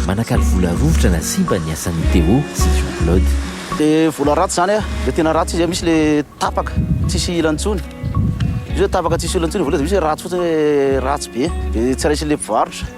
Manakalo vola rovitra na simba ny asan'i Téo sy Jean Claude. Dia vola ratsy izany an, dia tena ratsy izy an, misy le tapaka tsisy ilany intsony, misy hoe tapaka tsisy olana intsony ny vola dia misy hoe ratsy fotsiny hoe ratsy be, dia tsy raisin'ilay mpivarotra.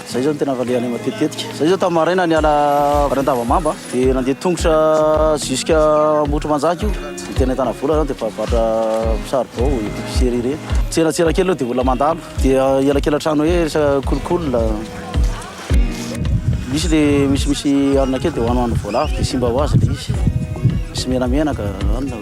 Zay zao no tena valehanay matetitetika. Zay zao tamin'ny maraina niala avy any Andavamamba dia nandeha tongotra jusque Ambohitrimanjaka io. Ny tena ahitana vola zany dia mpivarotra saribao, epicerie ireny. Tsenantsena kely aloha dia olona mandalo dia elakelan-trano hoe resaka kolikoly. Misy le misimisy hanina kely dia hohano hanina voalavo dia simba ho azy le izy. Misy menamenaka hanina.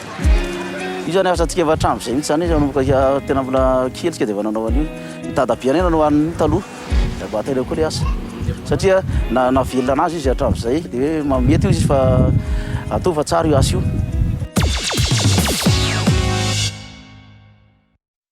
Io zany asa antsika efa hatramin'izay mihitsy zany hoe nanomboka hiha- tena mbola kely isika dia efa nanao an'io. Ny dadabeanay nanao an'io taloha, ry abahatsika ireo koa le asa. Satria na- nahavelona anazy izy hatramin'izay dia hoe ma- mety hoy izy fa ataovy fa tsara io asa io.